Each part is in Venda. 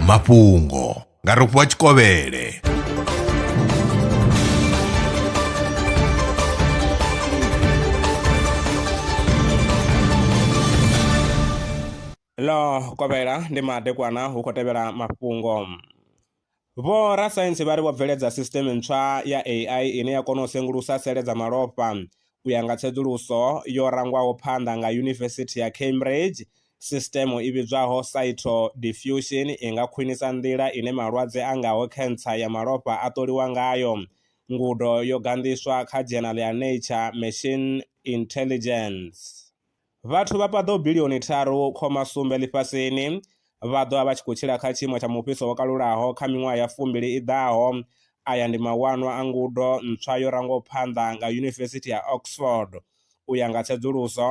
mafhungo nga rofhiwa tshikovhele ḽo kovhela ndi madekwana hu khou tevhela mafhungo Vho rasaintsi vha ri vho bveledza sisiṱeme ntswa ya AI ine ya kona u sengulusa sele dza malofha. U ya nga tsedzuluso yo rangwaho phanḓa nga Yunivesithi ya Cambridge, sisiṱeme i vhidzwaho cyto diffusion i nga khwinisa nḓila ine malwadze a ngaho khentsa ya malofha a ṱoliwa ngayo. Ngudo yo ganḓiswa kha dzhenala ya Nature Machine Intelligence. Vhathu vha paḓaho bilioni tharu khoma sumbe ḽifhasini vha ḓo vha vha tshi khou tshila kha tshiimo tsha mufhiso wo kalulaho kha miṅwaha ya fumbili i ḓaho. Aya ndi mawanwa a ngudo ntswa yo rangwaho phanḓa nga Yunivesithi ya Oxford u ya nga tsedzuluso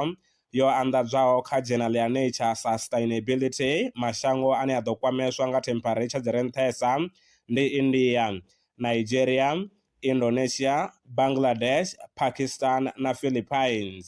yo anḓadzwaho kha dzhenala ya Nature Sustainability. Mashango ane a ḓo kwameswa nga thempharetsha dzi re nṱhesa ndi India, Nigeria, Indonesia, Bangladesh, Pakistan na Philippines.